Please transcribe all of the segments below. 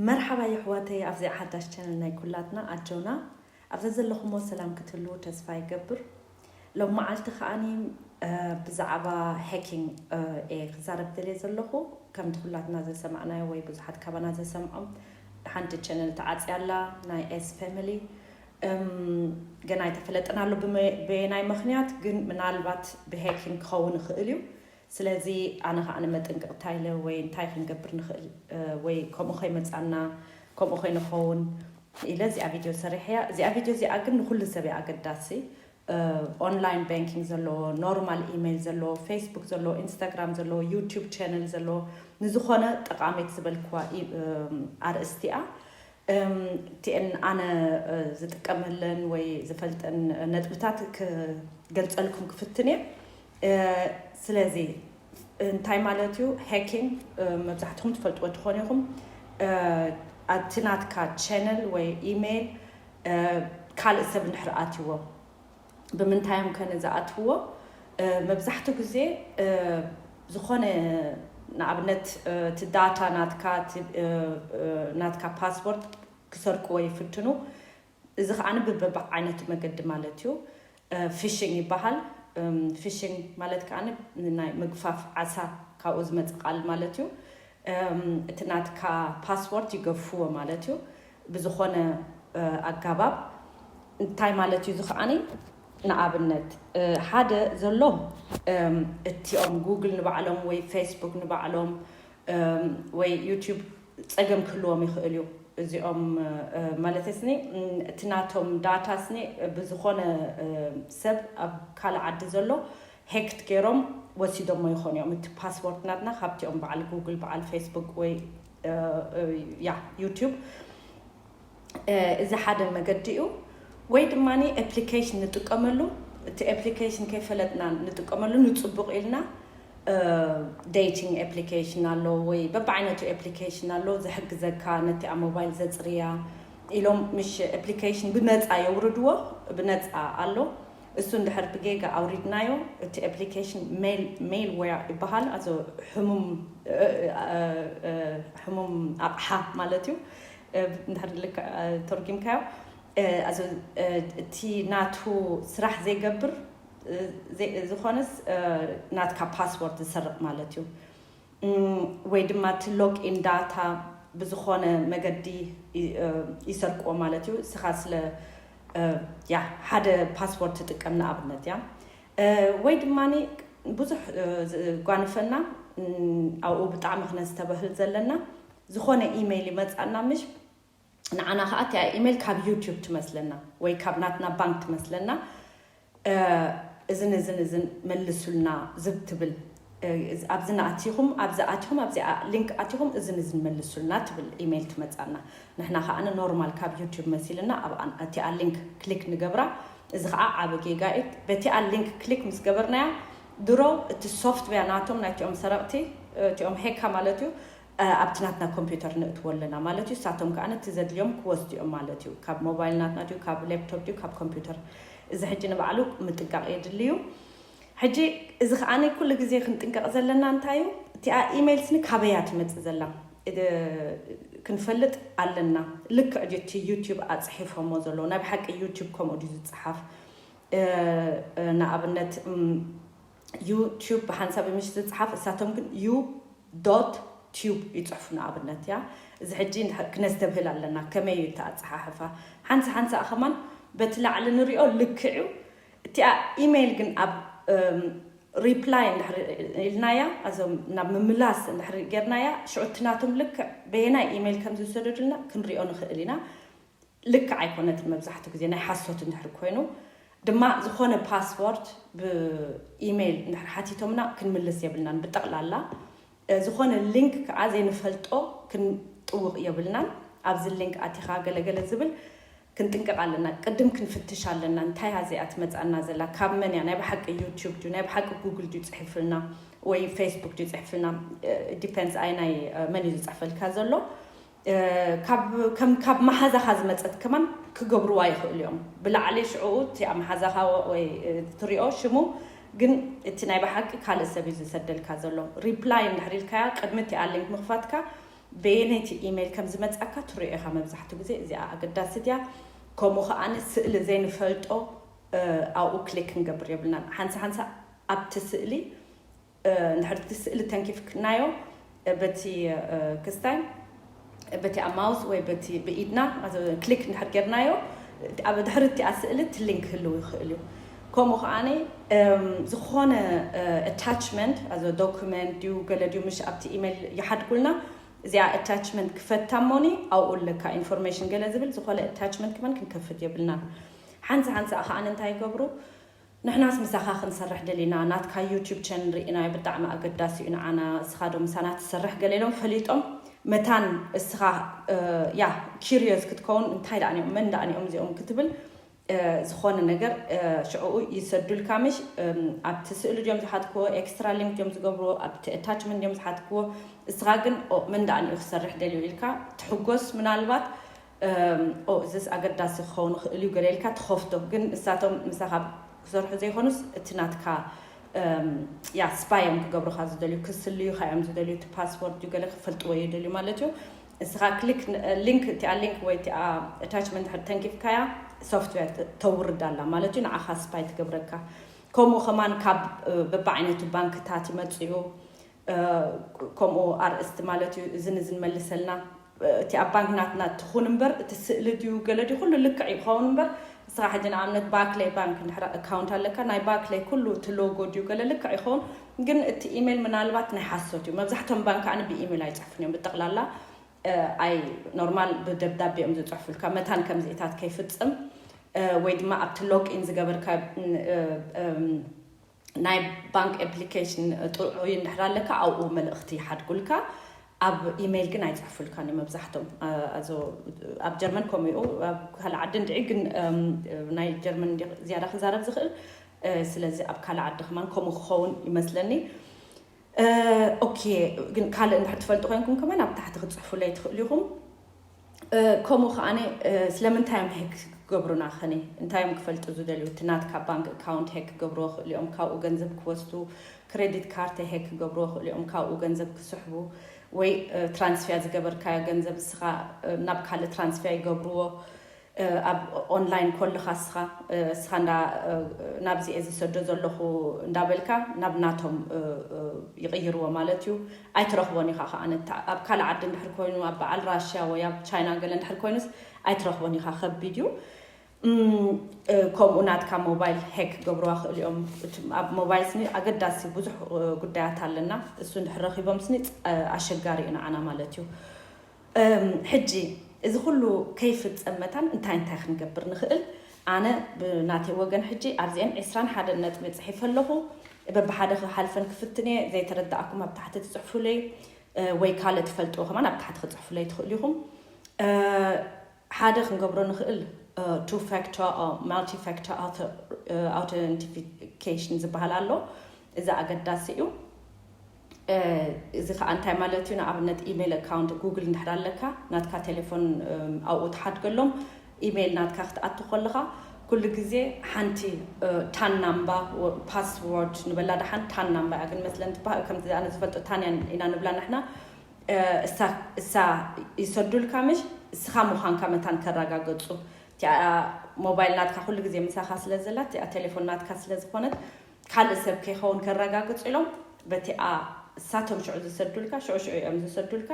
መርሓባ የሕዋተይ ኣብዚኣ ሓዳሽ ቻነል ናይ ኩላትና ኣጆና ኣብ ዘዘለኹሞ ሰላም ክትህልዉ ተስፋ ይገብር ሎሚ መዓልቲ ከኣ ብዛዕባ Hacking እየ ክዛረብ ደልየ ዘለኹ ከምቲ ኩላትና ዘሰማዕናዮ ወይ ብዙሓት ካባና ዘሰምዖም ሓንቲ ቻነል ተዓጽያ ኣላ ናይ S family ገና ኣይተፈለጠን ኣሎ በየናይ ምኽንያት ግን ምናልባት ብHacking ክኸውን ይኽእል እዩ ስለዚ ኣነ ከኣ መጠንቀቅ ታይ ኢለ ወይ እንታይ ክንገብር ንክእል ወይ ከምኡ ከይመጻና ከምኡ ከይንከውን ኢለ እዚኣ ቪድዮ ሰሪሐያ እዚኣ ቪድዮ እዚኣ ግን ንኩሉ ሰብ እያ ኣገዳሲ ኦንላይን ባንኪንግ ዘለዎ ኖርማል ኢመይል ዘለዎ ፌስቡክ ዘለዎ ኢንስታግራም ዘለዎ ዩቱብ ቻነል ዘለዎ ንዝኾነ ጠቃሚት ዝበልክዋ ኣርእስቲ እያ እቲኤን ኣነ ዝጥቀመለን ወይ ዝፈልጠን ነጥብታት ክገልጸልኩም ክፍትን እየ ስለዚ እንታይ ማለት እዩ ሃኪንግ መብዛሕትኹም ትፈልጥዎ ትኾኑ ኢኹም ኣብቲ ናትካ ቻነል ወይ ኢሜይል ካልእ ሰብ እንድሕር ኣትዎ ብምንታይ እዮም ከ ንዝኣትውዎ መብዛሕትኡ ግዜ ዝኾነ ንኣብነት እቲ ዳታ ናትካ ናትካ ፓስፖርት ክሰርቅዎ ይፍትኑ እዚ ከኣ ብበብዓይነቱ መገዲ ማለት እዩ። ፊሽንግ ይበሃል። ፊሽንግ ማለት ከኣ ናይ ምግፋፍ ዓሳ ካብኡ ዝመጽእ ቃል ማለት እዩ። እቲ ናትካ ፓስፖርት ይገፍፍዎ ማለት እዩ። ብዝኾነ ኣጋባብ እንታይ ማለት እዩ እዚ ከኣ ንኣብነት ሓደ ዘሎ እቲኦም ጉግል ንባዕሎም ወይ ፌስቡክ ንባዕሎም ወይ ዩቱብ ጸገም ክህልዎም ይኽእል እዩ እዚኦም ማለተይስኒ እቲ ናቶም ዳታ ስኒ ብዝኾነ ሰብ ኣብ ካልእ ዓዲ ዘሎ ሄክት ገይሮም ወሲዶሞ ይኾኑ እዮም እቲ ፓስዎርድ ናትና ካብቲኦም በዓል ጉግል በዓል ፌስቡክ ወይ ያ ዩቱብ እዚ ሓደ መገዲ እዩ ወይ ድማ ኤፕሊኬሽን ንጥቀመሉ እቲ ኤፕሊኬሽን ከይፈለጥና ንጥቀመሉ ንፅቡቅ ኢልና ዴቲንግ ኤፕሊኬሽን ኣሎ ወይ በብዓይነቱ ኤፕሊኬሽን ኣሎ ዝሕግዘካ ነቲኣ ሞባይል ዘፅርያ ኢሎም ምሽ ኤፕሊኬሽን ብነፃ የውርድዎ ብነፃ ኣሎ እሱ እንድሕር ብጌጋ ኣውሪድናዮ እቲ ኤፕሊኬሽን ሜል ዌር ይበሃል ኣዞ ሕሙም ኣቕሓ ማለት እዩ እንድሕር ልክዕ ተርጊምካዮ ኣዚ እቲ ናቱ ስራሕ ዘይገብር ዝኾነስ ናትካ ፓስወርድ ዝሰርቕ ማለት እዩ ወይ ድማ እቲ ሎግ ኢን ዳታ ብዝኾነ መገዲ ይሰርቅዎ ማለት እዩ እስኻ ስለ ያ ሓደ ፓስወርድ ትጥቀም ንኣብነት እያ ወይ ድማ ብዙሕ ጓንፈና ኣብኡ ብጣዕሚ ክነስተበህል ዘለና ዝኾነ ኢመይል ይመጻና ምሽ ንዓና ከኣ እቲኣ ኢመይል ካብ ዩቱብ ትመስለና ወይ ካብ ናትና ባንክ ትመስለና እዝን እዝን እዝን መልሱልና ዝብ ትብል ኣብዚ ንኣቲኹም ኣብዚ ኣቲኹም ኣብዚ ሊንክ ኣቲኹም እዝን እዝን መልሱልና ትብል ኢመይል ትመጻና ንሕና ከኣ ኖርማል ካብ ዩቱብ መሲልና ኣብ እቲኣ ሊንክ ክሊክ ንገብራ እዚ ከዓ ዓበ ጌጋ እዩ በቲኣ ሊንክ ክሊክ ምስ ገበርናያ ድሮ እቲ ሶፍትዌር ናቶም ናይቲኦም ሰረቕቲ እቲኦም ሄካ ማለት እዩ ኣብቲ ናትና ኮምፕዩተር ነእትዎ ኣለና ማለት እዩ። እሳቶም ከኣ ነቲ ዘድልዮም ክወስዱ እዮም ማለት እዩ። ካብ ሞባይል ናትና ድዩ ካብ ሌፕቶፕ ድዩ ካብ ኮምፕዩተር እዚ ሕጂ ንባዕሉ ምጥንቃቕ የድሊ እዩ። ሕጂ እዚ ከኣ ኩሉ ግዜ ክንጥንቀቕ ዘለና እንታይ እዩ እቲኣ ኢመይል ስኒ ካበይ እያ ትመጽእ ዘላ ክንፈልጥ ኣለና። ልክዕ ድዩ እቲ ዩቱብ ኣጽሒፎሞ ዘለዉ ናይ ብሓቂ ዩቱብ ከምኡ ድዩ ዝጽሓፍ ንኣብነት ዩ ቱብ ብሓንሳብ ምሽ ዝጽሓፍ እሳቶም ግን ዩ ዶት ቱብ ይጽሕፉ ንኣብነት እያ እዚ ሕጂ እንድሕር ክነስተብህል ኣለና ከመይ እዩ እቲ ኣጸሓሕፋ ሓንሳ ሓንሳእ ከማን በቲ ላዕሊ ንሪኦ ልክዕ እዩ እቲኣ ኢመይል ግን ኣብ ሪፕላይ እንድሕር ኢልናያ ኣዞም ናብ ምምላስ እንድሕር ጌርናያ ሽዑ እቲ ናቶም ልክዕ በየናይ ኢመይል ከም ዝውሰደዱልና ክንሪኦ ንኽእል ኢና ልክዕ ኣይኮነትን መብዛሕቱ ግዜ ናይ ሓሶት እንድሕር ኮይኑ ድማ ዝኾነ ፓስዎርድ ብኢመይል እንድሕር ሓቲቶምና ክንምልስ የብልናን ብጠቕላላ ዝኾነ ሊንክ ከዓ ዘይንፈልጦ ክንጥውቕ የብልናን ኣብዚ ሊንክ ኣቲኻ ገለገለ ዝብል ክንጥንቀቕ ኣለና ቅድም ክንፍትሽ ኣለና እንታይ እያ እዚኣ ትመፅኣና ዘላ ካብ መን እያ ናይ ብሓቂ ዩቱብ ድዩ ናይ ብሓቂ ጉግል ድዩ ፅሒፍልና ወይ ፌስቡክ ድዩ ፅሕፍልና ዲፔንስ ኣይ ናይ መን እዩ ዝፅሕፈልካ ዘሎ ካብ ከም ካብ መሓዛኻ ዝመጸት ከማን ክገብርዋ ይኽእሉ እዮም ብላዕሊ ሽዑ እቲ ኣብ መሓዛኻ ወይ ትሪኦ ሽሙ ግን እቲ ናይ ብሓቂ ካልእ ሰብ እዩ ዝሰደልካ ዘሎ ሪፕላይ እንድሕር ኢልካያ ቅድሚ እቲኣ ሊንክ ምኽፋትካ በየነይቲ ኢሜይል ከም ዝመጻካ ትሪኦ ኢኻ መብዛሕትኡ ግዜ እዚኣ ኣገዳሲት እያ ከምኡ ከዓኒ ስእሊ ዘይንፈልጦ ኣብኡ ክሊክ ክንገብር የብልናን ሓንሳ ሓንሳ ኣብቲ ስእሊ እንድሕር እቲ ስእሊ ተንኪፍክናዮ በቲ ክስታይ በቲ ኣብ ማውዝ ወይ በቲ ብኢድና ክሊክ እንድሕር ጌርናዮ ኣብ ድሕሪ እቲኣ ስእሊ እቲ ሊንክ ክህልው ይኽእል እዩ ከምኡ ከዓ ዝኾነ ኣታችመንት ኣዞ ዶኩመንት ድዩ ገለ ድዩ ምሽ ኣብቲ ኢሜይል ይሓድጉልና እዚኣ ኣታችመንት ክፈታ እሞኒ ኣብኡ ኣለካ ኢንፎርሜሽን ገለ ዝብል ዝኾነ ኣታችመንት ክመን ክንከፍት የብልና ሓንሳ ሓንሳ ከዓ እንታይ ይገብሩ ንሕናስ ምሳካ ክንሰርሕ ደሊና ናትካ ዩቱብ ቸንል ሪኢናዮ ብጣዕሚ ኣገዳሲ እዩ ንዓና እስካ ዶ ምሳና ትሰርሕ ገለ ኢሎም ፈሊጦም መታን እስካ ያ ኪርዮዝ ክትከውን እንታይ ደኣ ኒኦም መን ደኣ ኒኦም እዚኦም ክትብል ዝኮነ ነገር ሽዑኡ ይሰዱልካ ምሽ ኣብቲ ስእሊ ድዮም ዝሓትክዎ ኤክስትራ ሊንክ ድዮም ዝገብርዎ ኣብቲ ኣታችመንት ድዮም ዝሓትክዎ እስካ ግን መን ደኣ ኒኡ ክሰርሕ ደልዩ ኢልካ ትሕጎስ ምናልባት እዝስ ኣገዳሲ ክኸውን ይኽእል እዩ ገለ ኢልካ ትኸፍቶ ግን ንሳቶም ምሳኻ ክሰርሑ ዘይኮኑስ እቲ ናትካ ያ ስፓይ እዮም ክገብሩኻ ዝደልዩ ክስልዩኻ እዮም ዝደልዩ እቲ ፓስወርድ እዩ ገለ ክፈልጥዎ እዩ ደልዩ ማለት እዩ እስኻ ክሊክ ሊንክ እቲኣ ሊንክ ወይ እቲኣ ኣታችመንት ሕድ ተንኪፍካያ ሶፍትዌር ተውርድ ኣላ ማለት እዩ ንዓኻ ስፓይ ትገብረካ ከምኡ ከማን ካብ በብዓይነቱ ባንክታት ይመፅኡ ከምኡ ኣርእስቲ ማለት እዩ እዝን እዝን መልሰልና እቲ ኣብ ባንክ ናትና ትኹን እምበር እቲ ስእሊ ድዩ ገለ ድዩ ኩሉ ልክዕ እዩ ክኸውን እምበር ንስኻ ሕጂ ንኣብነት ባክለይ ባንክ እንድሕር ኣካውንት ኣለካ ናይ ባክለይ ኩሉ እቲ ሎጎ ድዩ ገለ ልክዕ ይኸውን ግን እቲ ኢሜል ምናልባት ናይ ሓሶት እዩ መብዛሕቶም ባንክ ከዓኒ ብኢሜል ኣይፅሕፉን እዮም ብጠቕላላ ኣይ ኖርማል ብደብዳቤ እዮም ዝፅሕፉልካ መታን ከምዚእታት ከይፍፅም ወይ ድማ ኣብቲ ሎግ ኢን ዝገበርካ ናይ ባንክ ኤፕሊኬሽን ጥዑይ እንድሕር ኣለካ ኣብኡ መልእኽቲ ይሓድጉልካ ኣብ ኢሜይል ግን ኣይፅሕፉልካን እዩ መብዛሕቶም ኣብ ጀርመን ከምኡ እዩ ኣብ ካልእ ዓዲ እንድዒ ግን ናይ ጀርመን ዝያዳ ክዛረብ ዝኽእል ስለዚ ኣብ ካልእ ዓዲ ከማን ከምኡ ክኸውን ይመስለኒ ኦኬ ግን ካልእ እንድሕር ትፈልጡ ኮይንኩም ከማን ኣብ ታሕቲ ክትፅሕፉለይ ትኽእሉ ኢኹም ከምኡ ከዓ ስለምንታይ እዮም ሄክ ክገብሩና ከኔ እንታይ እዮም ክፈልጡ ዝደልዩ እቲ ናትካ ባንክ ኣካውንት ሄክ ክገብርዎ ክእሉ እዮም ካብኡ ገንዘብ ክወስዱ ክሬዲት ካርተ ሄክ ክገብርዎ ክእሉ እዮም ካብኡ ገንዘብ ክስሕቡ ወይ ትራንስፊያ ዝገበርካዮ ገንዘብ እስኻ ናብ ካልእ ትራንስፊያ ይገብርዎ ኣብ ኦንላይን ኮልኻ እስኻ እስኻ እንዳ ናብዚ እየ ዝሰዶ ዘለኹ እንዳበልካ ናብ ናቶም ይቕይርዎ ማለት እዩ። ኣይትረኽቦን ኢኻ ከኣ ነቲ ኣብ ካልእ ዓዲ እንድሕር ኮይኑ ኣብ በዓል ራሽያ ወይ ኣብ ቻይና ገለ እንድሕር ኮይኑስ ኣይትረኽቦን ኢኻ ከቢድ እዩ። ከምኡ ናትካ ሞባይል ሄክ ክገብርዋ ይኽእሉ እዮም። እቲ ኣብ ሞባይል ስኒ ኣገዳሲ ብዙሕ ጉዳያት ኣለና እሱ እንድሕር ረኺቦም ስኒ ኣሸጋሪ እዩ ንዓና ማለት እዩ። እም ሕጂ እዚ ኩሉ ከይፍጸም መታን እንታይ እንታይ ክንገብር ንኽእል? ኣነ ብናተይ ወገን ሕጂ ኣብዚኤን ዕስራን ሓደን ነጥቢ ጽሒፈ ኣለኹ። በብሓደ ክሓልፈን ክፍትን እየ። ዘይተረደኣኩም ኣብ ታሕቲ ትጽሕፉለይ ወይ ካልእ ትፈልጥዎ ከማን ኣብ ታሕቲ ክትጽሕፉለይ ትኽእሉ ኢኹም። ሓደ ክንገብሮ ንኽእል ቱ ፋክተር ኦር ማልቲ ፋክተር ኣውተንቲፊኬሽን ዝበሃል ኣሎ። እዚ ኣገዳሲ እዩ። እዚ ከዓ እንታይ ማለት እዩ? ንኣብነት ኢሜይል ኣካውንት ጉግል እንድሕር ኣለካ ናትካ ቴሌፎን ኣብኡ ትሓድገሎም ኢሜይል ናትካ ክትኣቱ ከለኻ ኩሉ ግዜ ሓንቲ ታን ናምባ ፓስዎርድ ንበላ ደሓን ታን ናምባ እያ ግን መስለን ትበሃል ከምዚ ኣነ ዝፈልጦ ታን ኢና ንብላ ንሕና እሳ እሳ ይሰዱልካ ምሽ እስኻ ምዃንካ መታን ከራጋገጹ እቲኣ ሞባይል ናትካ ኩሉ ግዜ ምሳኻ ስለ ዘላ እቲኣ ቴሌፎን ናትካ ስለ ዝኾነት ካልእ ሰብ ከይኸውን ከራጋግጹ ኢሎም በቲኣ እሳቶም ሽዑ ዝሰዱልካ ሽዑ ሽዑ እዮም ዝሰዱልካ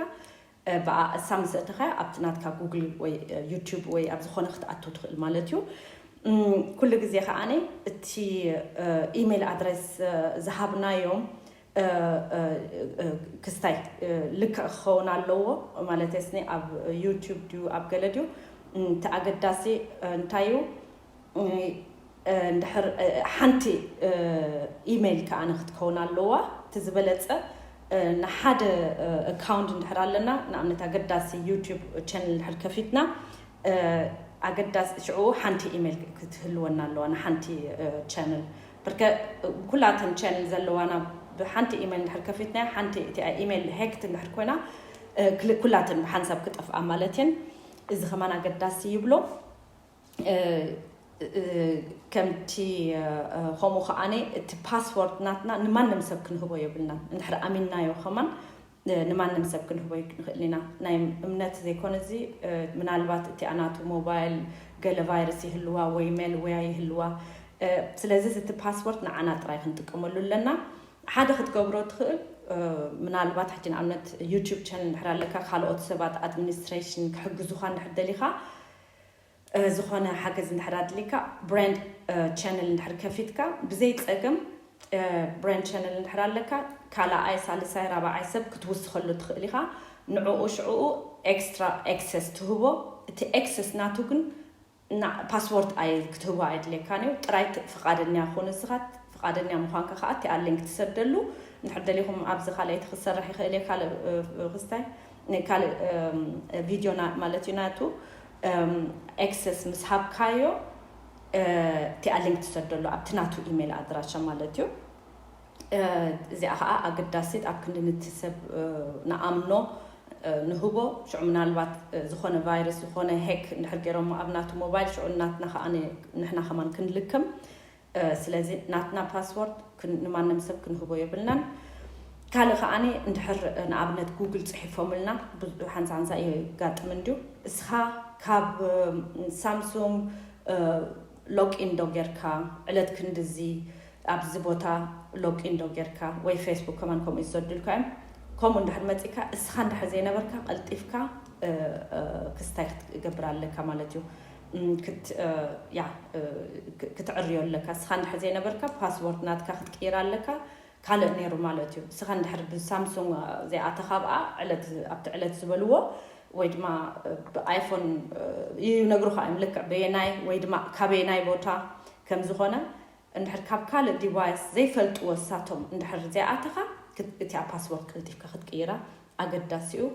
ብኣ እሳ ምስ እትኸያ ኣብቲ ናትካ ጉግል ወይ ዩቱብ ወይ ኣብ ዝኾነ ክትኣቱ ትኽእል ማለት እዩ ኩሉ ግዜ ከዓኒ እቲ ኢሜል ኣድረስ ዝሃብናዮም ክስታይ ልክዕ ክኸውን ኣለዎ ማለት ስኒ ኣብ ዩቱብ ድዩ ኣብ ገለ ድዩ እቲ ኣገዳሲ እንታይ እዩ እንድሕር ሓንቲ ኢሜይል ከኣ ክትከውን ኣለዋ እቲ ዝበለፀ ንሓደ ኣካውንት እንድሕር ኣለና ንኣብነት ኣገዳሲ ዩቱብ ቻነል እንድሕር ከፊትና ኣገዳሲ ሽዑ ሓንቲ ኢሜይል ክትህልወና ኣለዋ ንሓንቲ ቻነል ብርከ ኩላ እተን ቻነል ዘለዋና ብሓንቲ ኢመል እንድሕር ከፊትናያ ሓንቲ እቲኣ ኢመል ሄክት እንድሕር ኮይና ኩላተን ብሓንሳብ ክጠፍኣ ማለት እየን እዚ ከማን ኣገዳሲ ይብሎ ከምቲ ከምኡ ከዓነ እቲ ፓስወርድ ናትና ንማንም ሰብ ክንህቦ የብልናን እንድሕር ኣሚንናዮ ከማን ንማንም ሰብ ክንህቦ ኣይንኽእልን ኢና። ናይ እምነት ዘይኮነ እዚ ምናልባት እቲኣ ናቱ ሞባይል ገለ ቫይረስ ይህልዋ ወይ ሜልዌያ ይህልዋ ስለዚ እቲ ፓስፖርት ንዓና ጥራይ ክንጥቀመሉ ኣለና። ሓደ ክትገብሮ ትኽእል ምናልባት ሕጂ ንኣብነት ዩቱብ ቻነል እንድሕር ኣለካ ካልኦት ሰባት ኣድሚኒስትሬሽን ክሕግዙኻ እንድሕር ደሊኻ ዝኾነ ሓገዝ እንድሕር ኣድልይካ ብራንድ ቻነል እንድሕር ከፊትካ ብዘይ ጸገም ብራንድ ቻነል እንድሕር ኣለካ ካላኣይ ሳልሳይ ራባዓይ ሰብ ክትውስኸሉ ትኽእል ኢኻ ንዑኡ ሽዑኡ ኤክስትራ ኤክሰስ ትህቦ እቲ ኤክሰስ ናቱ ግን እና ፓስዎርድ ኣይ ክትህቦ ኣየድልየካን እዩ ጥራይ ፍቓደኛ ኩን ንስኻ ፍቓደኛ ምዃንካ ከዓ እቲኣ ሊንክ ትሰደሉ እንድሕር ደሊኹም ኣብዚ ካልኣይቲ ክትሰርሕ ይኽእል እየ ካልእ ክስታይ ካልእ ቪድዮ ማለት እዩ ናቱ ኤክሰስ ምስ ሃብካዮ እቲኣ ሊንክ ትሰደሉ ኣብቲ ናቱ ኢሜል ኣድራሻ ማለት እዩ እዚኣ ከዓ ኣገዳሲት ኣብ ክንዲ ንቲ ሰብ ንኣምኖ ንህቦ ሽዑ ምናልባት ዝኾነ ቫይረስ ዝኾነ ሄክ እንድሕር ገይሮሞ ኣብ ናቱ ሞባይል ሽዑ ናትና ከዓ ንሕና ከማን ክንልክም ስለዚ ናትና ፓስዎርድ ንማንም ሰብ ክንህቦ የብልናን ካልእ ከኣ እንድሕር ንኣብነት ጉግል ጽሒፎምልና ሓንሳ ሓንሳ የጋጥም እንድዩ እስኻ ካብ ሳምሱንግ ሎጊን ዶ ጌርካ ዕለት ክንድዚ ኣብዚ ቦታ ሎጊን ዶ ጌርካ ወይ ፌስቡክ ከማን ከምኡ እዩ ዝሰዱልካ እዮም ከምኡ እንድሕር መጺካ እስኻ እንድሕር ዘይነበርካ ቀልጢፍካ ክስታይ ክትገብር ኣለካ ማለት እዩ ክትዕርዮ ኣለካ እስኻ እንድሕር ዘይነበርካ ፓስዎርድ ናትካ ክትቅይር ኣለካ ካልእ ነይሩ ማለት እዩ እስኻ እንድሕር ብሳምሱንግ ዘይኣተኻ ብኣ ዕለት ኣብቲ ዕለት ዝበልዎ ወይ ድማ ብኣይፎን ይነግሩኻ እዮም ልክዕ በየናይ ወይ ድማ ካበየናይ ቦታ ከም ዝኾነ እንድሕር ካብ ካልእ ዲቫይስ ዘይፈልጥዎ እሳቶም እንድሕር ዘይኣተኻ እቲኣ ፓስወርድ ቀልጢፍካ ክትቅይራ ኣገዳሲ እዩ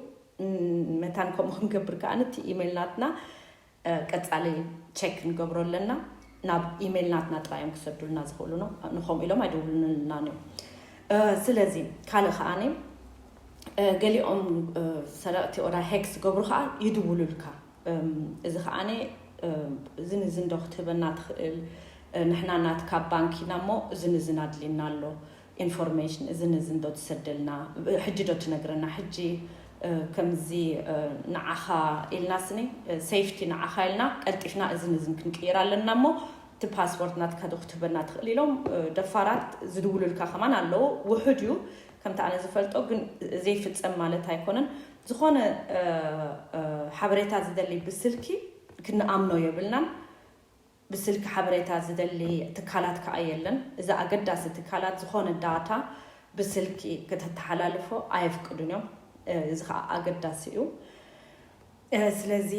መታን ከምኡ ክንገብር ከኣ እቲ ኢሜይል ናትና ቀጻሊ ቸክ ንገብሮ ኣለና ናብ ኢሜይል ናትና ጥራይ እዮም ክሰዱልና ዝኽእሉ ነው ንከምኡ ኢሎም ኣይደውሉንልና እዮም ስለዚ ካልእ ከዓኒ ገሊኦም ሰረቕቲ ኦዳ ሄክ ዝገብሩ ከዓ ይድውሉልካ እዚ ከዓኒ እዚ ንዝንዶ ክትህበና ትኽእል ንሕና ናትካ ባንክ ኢና እሞ እዚ ንዝን ኣድልየና ኣሎ ኢንፎርሜሽን እዝን እዝን ዶ ትሰደልና ሕጂ ዶ ትነግረና ሕጂ ከምዚ ንዓኻ ኢልና ስኒ ሴፍቲ ንዓኻ ኢልና ቀልጢፍና እዝን እዝን ክንቅይር ኣለና እሞ እቲ ፓስፖርት ናትካ ዶ ክትህበና ትኽእል ኢሎም ደፋራት ዝድውሉልካ ከማን ኣለዉ ውሑድ እዩ ከምቲ ኣነ ዝፈልጦ ግን ዘይፍጸም ማለት ኣይኮነን ዝኾነ ሓበሬታ ዝደሊ ብስልኪ ክንኣምኖ የብልናን ብስልኪ ሓበሬታ ዝደሊ ትካላት ከኣ የለን። እዚ ኣገዳሲ ትካላት ዝኾነ ዳታ ብስልኪ ክተተሓላልፎ ኣየፍቅዱን እዮም። እዚ ከኣ ኣገዳሲ እዩ። ስለዚ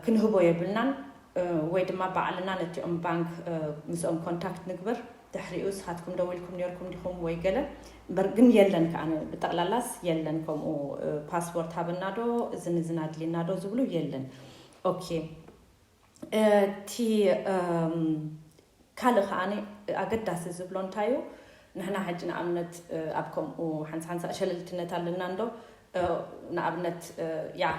ክንህቦ የብልናን ወይ ድማ ባዕልና ነቲኦም ባንክ ምስኦም ኮንታክት ንግበር ድሕሪኡ ንስኻትኩም ደዊልኩም ኔርኩም ዲኹም ወይ ገለ እምበር ግን የለን ከኣ ብጠቕላላስ የለን ከምኡ ፓስፖርት ሃበናዶ እዝን እዝን ኣድልየናዶ ዝብሉ የለን ኦኬ እቲ ካልእ ከኣ ኣገዳሲ ዝብሎ እንታይ እዩ፣ ንሕና ሕጂ ንኣብነት ኣብ ከምኡ ሓንሳ ሓንሳ ሸለልትነት ኣለና እንዶ ንኣብነት ያዕ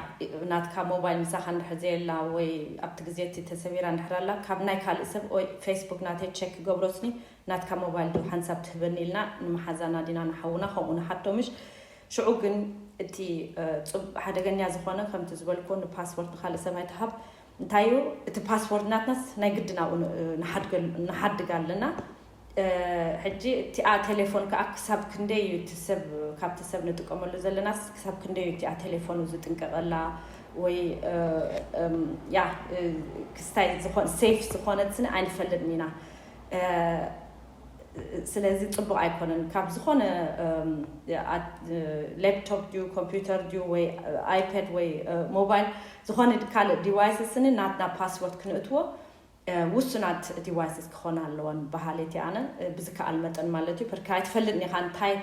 ናትካ ሞባይል ምሳኻ እንድሕር ዘየላ ወይ ኣብቲ ግዜ እቲ ተሰቢራ እንድሕር ኣላ ካብ ናይ ካልእ ሰብ ወይ ፌስቡክ ናተይ ቸክ ክገብሮስኒ ናትካ ሞባይል ድዩ ሓንሳብ ትህበኒ ኢልና ንመሓዛና ዲና ንሓውና ከምኡ ንሓቶ ምሽ ሽዑ ግን እቲ ጽብ ሓደገኛ ዝኾነ ከምቲ ዝበልኩዎ ንፓስፖርት ንኻልእ ሰብ ኣይትሃብ እንታይ እዩ እቲ ፓስፖርት ናትናስ ናይ ግድን ኣብኡ ን- እ፣ ንሓድገል- ንሓድግ ኣለና እ፣ ሕጂ እቲኣ ቴሌፎን ከዓ ክሳብ ክንደይ እዩ እቲ ሰብ ካብቲ ሰብ ንጥቀመሉ ዘለናስ ክሳብ ክንደይ እዩ እቲኣ ቴሌፎኑ ዝጥንቀቐላ ወይ እ፣ እም፣ ያ እ፣ ክስታይ ዝኾን ሴፍ ዝኾነትኒ ኣይንፈልጥን ኢና እ፣ ስለዚ ጽቡቅ ኣይኮነን ካብ ዝኮነ ሌፕቶፕ ድዩ ኮምፒውተር ድዩ ወይ ኣይፓድ ወይ ሞባይል ዝኮነ ካልእ ዲቫይስስ ስኒ ናትና ፓስወርድ ክንእትዎ ውሱናት ዲቫይስስ ክኾና ኣለወን በሃሊት እየ ኣነ ብዝከኣል መጠን ማለት እዩ ፐርካ ኣይትፈልጥን ኢኻ እንታይ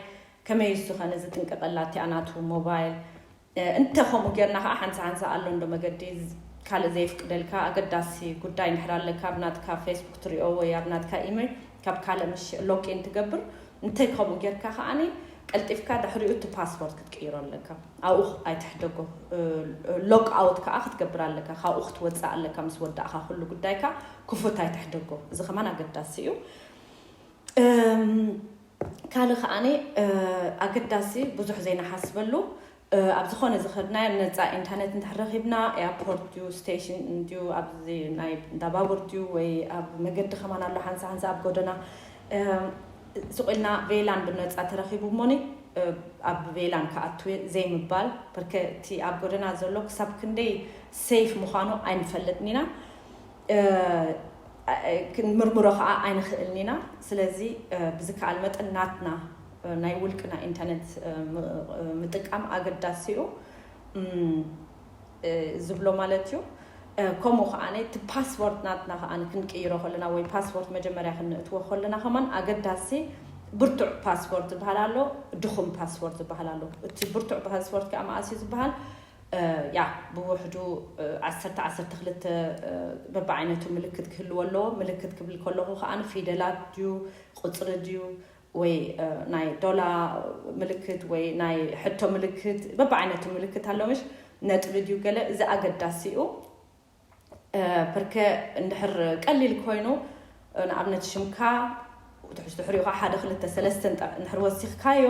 ከመይ እሱ ከነ ዝጥንቀቀላ እቲኣ ናቱ ሞባይል እንተ ከምኡ ጌርና ከኣ ሓንሳ ሓንሳ ኣሎ እንዶ መገዲ ካልእ ዘየፍቅደልካ ኣገዳሲ ጉዳይ እንድሕር ኣለካ ኣብ ናትካ ፌስቡክ ትሪኦ ወይ ኣብ ናትካ ኢመይ ካብ ካልእ ምሽ ሎጊን ትገብር እንተ ከምኡ ጌርካ ከኣ ቀልጢፍካ ድሕሪኡ እቲ ፓስዎርድ ክትቅይሮ ኣለካ ኣብኡ ኣይትሕደጎ ሎግ ኣውት ከኣ ክትገብር ኣለካ ካብኡ ክትወጽእ ኣለካ ምስ ወዳእካ ኩሉ ጉዳይካ ክፉት ኣይትሕደጎ እዚ ከማን ኣገዳሲ እዩ ካልእ ከኣ ኣገዳሲ ብዙሕ ዘይንሓስበሉ ኣብ ዝኾነ ዝኸድናዮ ነፃ ኢንተርነት እንድሕር ረኺብና ኤርፖርት ድዩ ስቴሽን እንድዩ ኣብዚ ናይ እንዳ ባቡር ድዩ ወይ ኣብ መገዲ ከማን ኣሎ ሓንሳ ሓንሳ ኣብ ጎደና ስቕ ኢልና ቬላን ብነፃ ተረኺቡ እሞኒ ኣብ ቬላን ክኣቱ ዘይምባል በርከ እቲ ኣብ ጎደና ዘሎ ክሳብ ክንደይ ሰይፍ ምዃኑ ኣይንፈልጥን ኢና ክንምርምሮ ከኣ ኣይንኽእልን ኢና። ስለዚ ብዝከኣል መጠን ናትና ናይ ውልቅና ኢንተርነት ምጥቃም ኣገዳሲ'ዩ ዝብሎ ማለት'ዩ። ከምኡ ከኣ እቲ ፓስዎርድ ናትና ከኣ ክንቅይሮ ከለና ወይ ፓስዎርድ መጀመርያ ክንእትዎ ከለና ከማን ኣገዳሲ ብርቱዕ ፓስዎርድ ዝብሃል ኣሎ ድኹም ፓስዎርድ ዝብሃል ኣሎ። እቲ ብርቱዕ ፓስዎርድ ከኣ መኣስ'ዩ ዝብሃል ያዕ ብውሕዱ ዓሰርተ ዓሰርተ ክልተ በብዓይነቱ ምልክት ክህልዎ ኣለዎ። ምልክት ክብል ከለኹ ከኣ ፊደላት ድዩ ቁጽሪ ድዩ ወይ ናይ ዶላ ምልክት ወይ ናይ ሕቶ ምልክት በብዓይነቱ ምልክት ኣሎ ምሽ ነጥቢ ድዩ ገለ እዚ ኣገዳሲኡ ፐርከ እንድሕር ቀሊል ኮይኑ ንኣብነት ሽምካ ትሕሽ ድሕሪኡ ከዓ ሓደ ክልተ ሰለስተ እንድሕር ወሲኽካዮ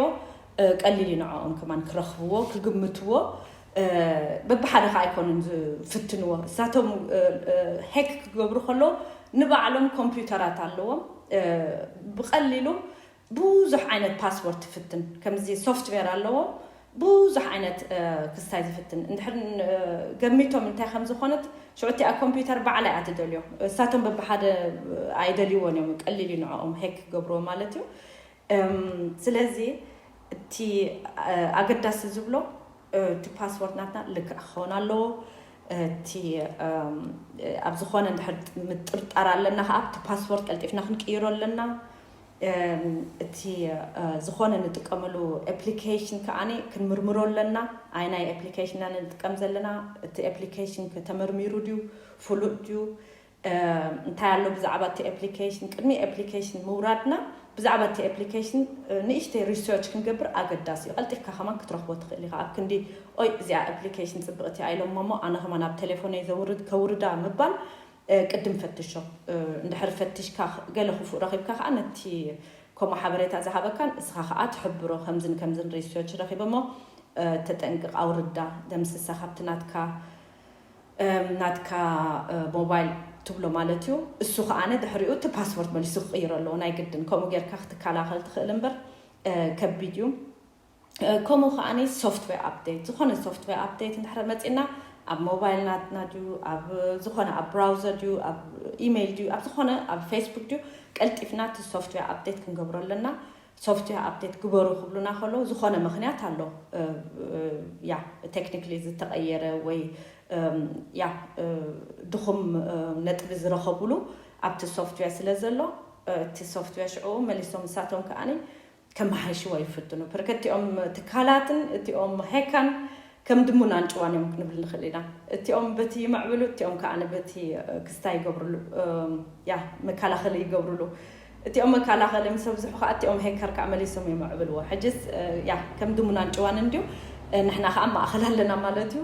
ቀሊል እዩ ንዕኦም ከማን ክረኽብዎ ክግምትዎ በብሓደ ከዓ ኣይኮኑን ዝፍትንዎ እሳቶም ሄክ ክገብሩ ከለዉ ንባዕሎም ኮምፒውተራት ኣለዎም ብቐሊሉ ብዙሕ ዓይነት ፓስዎርድ ትፍትን ከምዚ ሶፍትዌር ኣለዎ ብዙሕ ዓይነት ክስታይ ዝፍትን እንድሕር ገሚቶም እንታይ ከም ዝኾነት ሽዑ እቲኣ ኮምፒውተር ባዕላ እያ ትደልዮ እሳቶም በብሓደ ኣይደልይዎን እዮም ቀሊል እዩ ንዕኦም ሄክ ክገብርዎ ማለት እዩ ስለዚ እቲ ኣገዳሲ ዝብሎ እቲ ፓስዎርድ ናትና ልክዕ ክኸውን ኣለዎ እቲ ኣብ ዝኾነ እንድሕር ምጥርጣር ኣለና ከዓ እቲ ፓስዎርድ ቀልጢፍና ክንቅይሮ ኣለና እቲ ዝኾነ ንጥቀመሉ ኤፕሊኬሽን ከኣ ክንምርምሮ ኣለና። ኣየናይ ኤፕሊኬሽን ኢና ንጥቀም ዘለና፣ እቲ ኤፕሊኬሽን ከ ተመርሚሩ ድዩ፣ ፍሉጥ ድዩ፣ እንታይ ኣሎ ብዛዕባ እቲ ኤፕሊኬሽን፣ ቅድሚ ኤፕሊኬሽን ምውራድና ብዛዕባ እቲ ኤፕሊኬሽን ንእሽተይ ሪሰርች ክንገብር ኣገዳሲ እዩ። ቀልጢፍካ ከማን ክትረኽቦ ትኽእል ኢኻ። ኣብ ክንዲ ኦይ እዚኣ ኤፕሊኬሽን ጽብቕቲ እያ ኢሎሞ'ሞ ኣነ ከማን ኣብ ቴሌፎነይ ዘውርድ ከውርዳ ምባል ቅድም ፈትሾ። እንድሕር ፈቲሽካ ገለ ክፉእ ረኺብካ ከኣ ነቲ ከምኡ ሓበሬታ ዝሃበካን ንስኻ ከኣ ትሕብሮ ከምዝን ከምዝን ሪስዮች ረኺበ እሞ ተጠንቅቅ ኣውርዳ ደምስሳ ካብቲ ናትካ ናትካ ሞባይል ትብሎ ማለት እዩ እሱ ከኣነ ድሕሪኡ እቲ ፓስፖርት መሊሱ ክቕይሮ ኣለዎ ናይ ግድን ከምኡ ጌርካ ክትከላኸል ትኽእል እምበር ከቢድ እዩ ከምኡ ከኣ ሶፍትዌር ኣፕዴት ዝኾነ ሶፍትዌር ኣፕዴት እንድሕር መጺእና ኣብ ሞባይል ናትና ድዩ ኣብ ዝኾነ ኣብ ብራውዘር ድዩ ኣብ ኢሜይል ድዩ ኣብ ዝኾነ ኣብ ፌስቡክ ድዩ ቀልጢፍና እቲ ሶፍትዌር ኣፕዴት ክንገብሮ ኣለና ሶፍትዌር ኣፕዴት ግበሩ ክብሉና ከለዉ ዝኾነ ምክንያት ኣሎ ያ ቴክኒክሊ ዝተቐየረ ወይ ያ ድኹም ነጥቢ ዝረኸብሉ ኣብቲ ሶፍትዌር ስለ ዘሎ እቲ ሶፍትዌር ሽዑ መሊሶም ንሳቶም ከኣ ከመሓይሽዎ ይፍትኑ። ፐርከቲኦም ትካላትን እቲኦም ሄካን ከም ድሙን ኣንጭዋን እዮም ክንብል ንኽእል ኢና። እቲኦም በቲ ይምዕብሉ፣ እቲኦም ከኣ በቲ ክስታይ ይገብርሉ፣ ያ መከላኸሊ ይገብርሉ። እቲኦም መከላኸሊ ምስ ኣብዝሑ ከኣ እቲኦም ሄከር ከኣ መሊሶም የምዕብልዎ። ሕጅስ ያ ከም ድሙን ኣንጭዋን እንድዩ፣ ንሕና ከኣ ማእኸል ኣለና ማለት እዩ።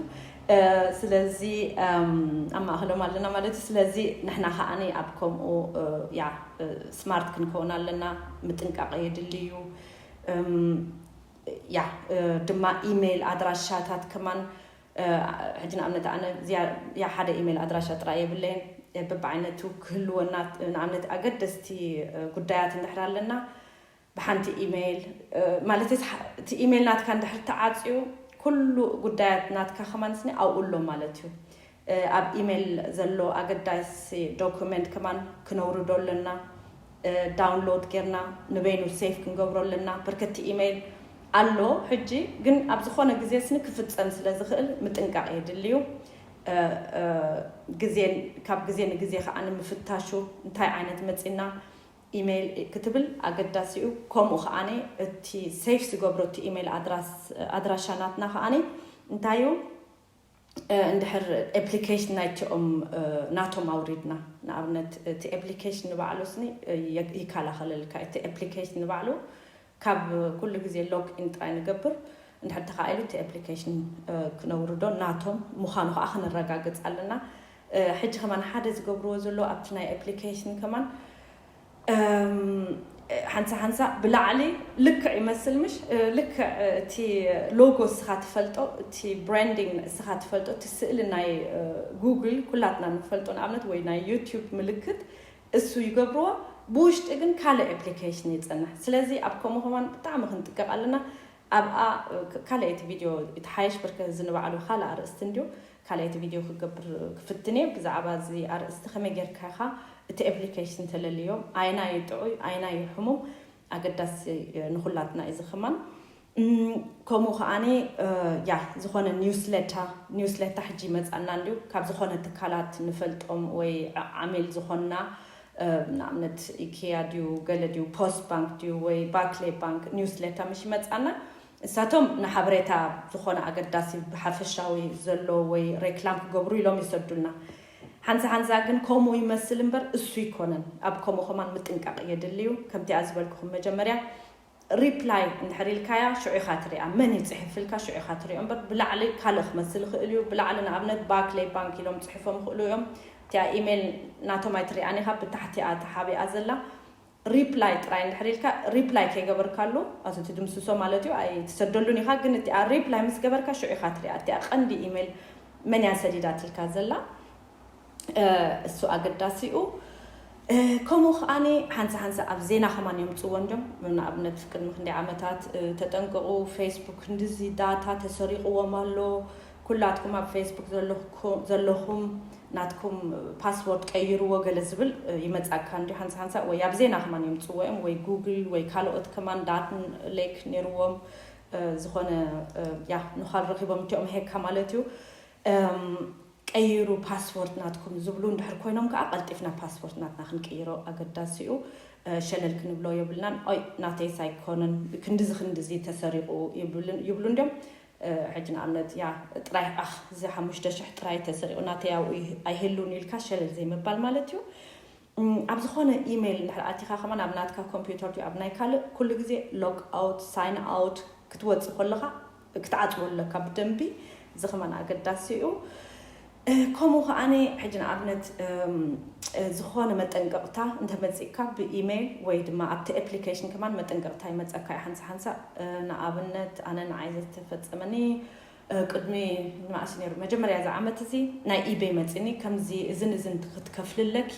ስለዚ ኣብ ማእከሎም ኣለና ማለት እዩ። ስለዚ ንሕና ከኣ ኣብ ከምኡ ያ ስማርት ክንከውን ኣለና። ምጥንቃቐ የድሊ እዩ። ያ ድማ ኢሜይል ኣድራሻታት ከማን ሕጂ ንኣብነት ኣነ ያ ሓደ ኢሜይል ኣድራሻ ጥራይ የብለይን በብዓይነቱ ክህልወና ንኣብነት ኣገደስቲ ጉዳያት እንድሕር ኣለና ብሓንቲ ኢመይል ማለት እቲ ኢመይል ናትካ እንድሕር ተዓጽዩ ኩሉ ጉዳያት ናትካ ከማን ስኒ ኣብኡ ኣሎ ማለት እዩ። ኣብ ኢመይል ዘሎ ኣገዳሲ ዶኩመንት ከማን ክነውርዶ ኣለና። ዳውንሎድ ጌርና ንበይኑ ሴቭ ክንገብሮ ኣለና። ብርክቲ ኢመይል ኣሎ ሕጂ ግን ኣብ ዝኾነ ግዜ ስኒ ክፍጸም ስለ ዝኽእል ምጥንቃቕ የድልዩ። ግዜ ካብ ግዜ ንግዜ ከኣ ንምፍታሹ እንታይ ዓይነት መጺና ኢመይል ክትብል ኣገዳሲ'ዩ ከምኡ ከኣ እቲ ሰይፍ ዝገብሮ እቲ ኢመይል ኣድራሻ ናትና ከኣ እንታይ'ዩ እንድሕር ኤፕሊኬሽን ናይቲኦም ናቶም ኣውሪድና ንኣብነት እቲ ኤፕሊኬሽን ንባዕሉስኒ ይካላኸለልካ'ዩ እቲ ኤፕሊኬሽን ንባዕሉ ካብ ኩሉ ግዜ ሎግ ኢን ጥራይ ንገብር እንድሕር ተኻኢሉ እቲ ኣፕሊኬሽን ክነውርዶ ናቶም ምዃኑ ከኣ ክነረጋግጽ ኣለና ሕጂ ከማን ሓደ ዝገብርዎ ዘለዉ ኣብቲ ናይ ኣፕሊኬሽን ከማን ሓንሳ ሓንሳ ብላዕሊ ልክዕ ይመስል ምሽ ልክዕ እቲ ሎጎ እስኻ ትፈልጦ እቲ ብራንዲንግ እስኻ ትፈልጦ እቲ ስእሊ ናይ ጉግል ኩላትና ንፈልጦ ንኣብነት ወይ ናይ ዩቲዩብ ምልክት እሱ ይገብርዎ ብውሽጢ ግን ካልእ ኣፕሊከሽን የጸንሕ ስለዚ ኣብ ከምኡ ከማን ብጣዕሚ ክንጥቀቅ ኣለና ኣብኣ ካልኣይቲ ቪድዮ ይትሓየሽ ብርከ እዚ ንባዕሉ ካልእ ኣርእስቲ እንድዩ ካልኣይቲ ቪድዮ ክገብር ክፍትን እየ ብዛዕባ እዚ ኣርእስቲ ከመይ ጌርካ ኢኻ እቲ ኣፕሊከሽን ተለልዮ ኣየናይ እዩ ጥዑይ ኣየናይ እዩ ሕሙም ኣገዳሲ ንኩላትና እዩ እዚ ክማን ከምኡ ከዓ ያ ዝኮነ ኒውስሌታ ኒውስሌታ ሕጂ ይመፅኣና እንድዩ ካብ ዝኮነ ትካላት ንፈልጦም ወይ ዓሚል ዝኮንና ንኣብነት ኢኬያ ድዩ ገለ ድዩ ፖስት ባንክ ድዩ ወይ ባክሌ ባንክ ኒውስሌታ ምሽ ይመፅኣና እሳቶም ንሓበሬታ ዝኮነ ኣገዳሲ ብሓፈሻዊ ዘሎ ወይ ሬክላም ክገብሩ ኢሎም ይሰዱልና ሓንሳ ሓንሳ ግን ኮምኡ ይመስል እምበር እሱ ኣይኮነን ኣብ ኮምኡ ከማን ምጥንቃቅ የድሊ እዩ ከምቲኣ ዝበልኩኩም መጀመርያ Reply እንድሕር ኢልካያ ሽዑ ኢካ ትሪኣ መን እዩ ጺሕፍልካ ሽዑ ኢካ ትሪኦ እምበር ብላዕሊ ካልእ ክመስል ይክእል እዩ ብላዕሊ ንኣብነት Barclay Bank ኢሎም ጺሕፎም ይክእሉ እዮም እቲኣ Email ናቶም ኣይትሪኣን ኢካ ብታሕቲኣ ተሓቢኣ ዘላ Reply ጥራይ እንድሕር ኢልካ Reply ከይገበርካሉ ኣቲ ትድምስሶ ማለት እዩ ኣይ ትሰደሉን ኢኻ ግን እቲኣ Reply ምስ ገበርካ ሽዑ ኢኻ ትሪኣ እቲኣ ቀንዲ Email መን እያ ሰዲዳትልካ ዘላ እሱ ኣገዳሲ እዩ ከምኡ ከዓኒ ሓንሳ ሓንሳ ኣብ ዜና ከማን የምፅዎ እንዲዮም ንኣብነት ቅድሚ ክንደይ ዓመታት ተጠንቀቑ ፌስቡክ ክንድዚ ዳታ ተሰሪቑዎም ኣሎ ኩላትኩም ኣብ ፌስቡክ ዘለኹም ናትኩም ፓስዎርድ ቀይርዎ ገለ ዝብል ይመጻካ እንድዩ ሃንሳ ሃንሳ ወይ ኣብ ዜና ከማን የምጽዎ እዮም ወይ ጉግል ወይ ካሎኦት ከማን ዳት ሌክ ነይርዎም ዝኾነ ያ ንዃል ረኺቦም እንቲኦም ሄካ ማለት እዩ ቀይሩ ፓስዎርድ ናትኩም ዝብሉ እንድሕር ኮይኖም ከኣ ቀልጢፍና ፓስፖርት ናትና ክንቅይሮ ኣገዳሲ እዩ ሸለል ክንብሎ የብልናን ኦይ ናተይስ ኣይኮነን ክንድዚ ክንድዚ ተሰሪቑ ይብሉ እንድዮም ሕጂ ንኣብነት ያህ ጥራይ ኣኽ እዚ ሓሙሽተ ሽሕ ጥራይ ተሰሪቑ ናተይ ኣብኡ ኣይህሉን ኢልካ ሸለል ዘይምባል ማለት እዩ። ኣብ ዝኾነ ኢሜይል እንድሕር ኣቲኻ ከማን ኣብ ናትካ ኮምፒውተር ድዩ ኣብ ናይ ካልእ ኩሉ ግዜ ሎግ ኣውት ሳይን ኣውት ክትወጽእ ከለኻ ክትዓጽዎ ኣለካ ብደንቢ እዚ ከማን ኣገዳሲ እዩ። ከምኡ ከኣ ሕጂ ንኣብነት ዝኮነ መጠንቀቅታ እንተ መጺእካ ብኢመይል ወይ ድማ ኣብቲ ኤፕሊከሽን ከማን መጠንቀቅታ ይመጸካ እዩ ሓንሳ ሓንሳ ንኣብነት ኣነ ንዓይ ዘተፈጸመኒ ቅድሚ ንማእሲ ነይሩ መጀመርያ እዚ ዓመት እዚ ናይ ኢበይ መጺኒ ከምዚ እዝን እዝን ክትከፍሊ ኣለኪ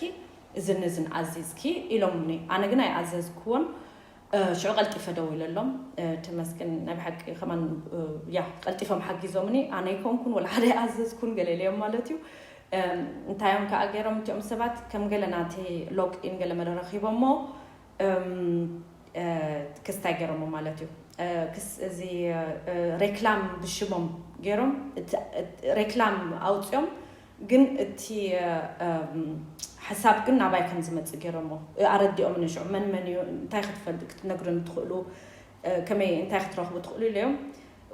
እዝን እዝን ኣዚዝኪ ኢሎምኒ ኣነ ግን ኣይኣዘዝክዎን ሽዑ ቀልጢፈ ደዊለሎም ተመስገን ናይ ብሓቂ ከማን ያ ቀልጢፎም ሓጊዞምኒ ኣነ ኣይኮንኩን ወላ ሓደ ኣይኣዘዝኩን ገለ ኢለዮም ማለት እዩ እንታይ እዮም ከዓ ገይሮም እቲኦም ሰባት ከም ገለ ናተይ ሎግ ኢን ገለ መለ ረኺቦሞ ክስታይ ገይሮሞ ማለት እዩ እዚ ሬክላም ብሽሞም ገይሮም ሬክላም ኣውፅኦም ግን እቲ ሓሳብ ግን ናባይ ከም ዝመጽእ ገይሮሞ ኣረዲኦምኒ ሽዑ መን መን እዩ እንታይ ክትፈልጥ ክትነግርኒ ትኽእሉ ከመይ እንታይ ክትረኽቡ ትኽእሉ ኢለዮም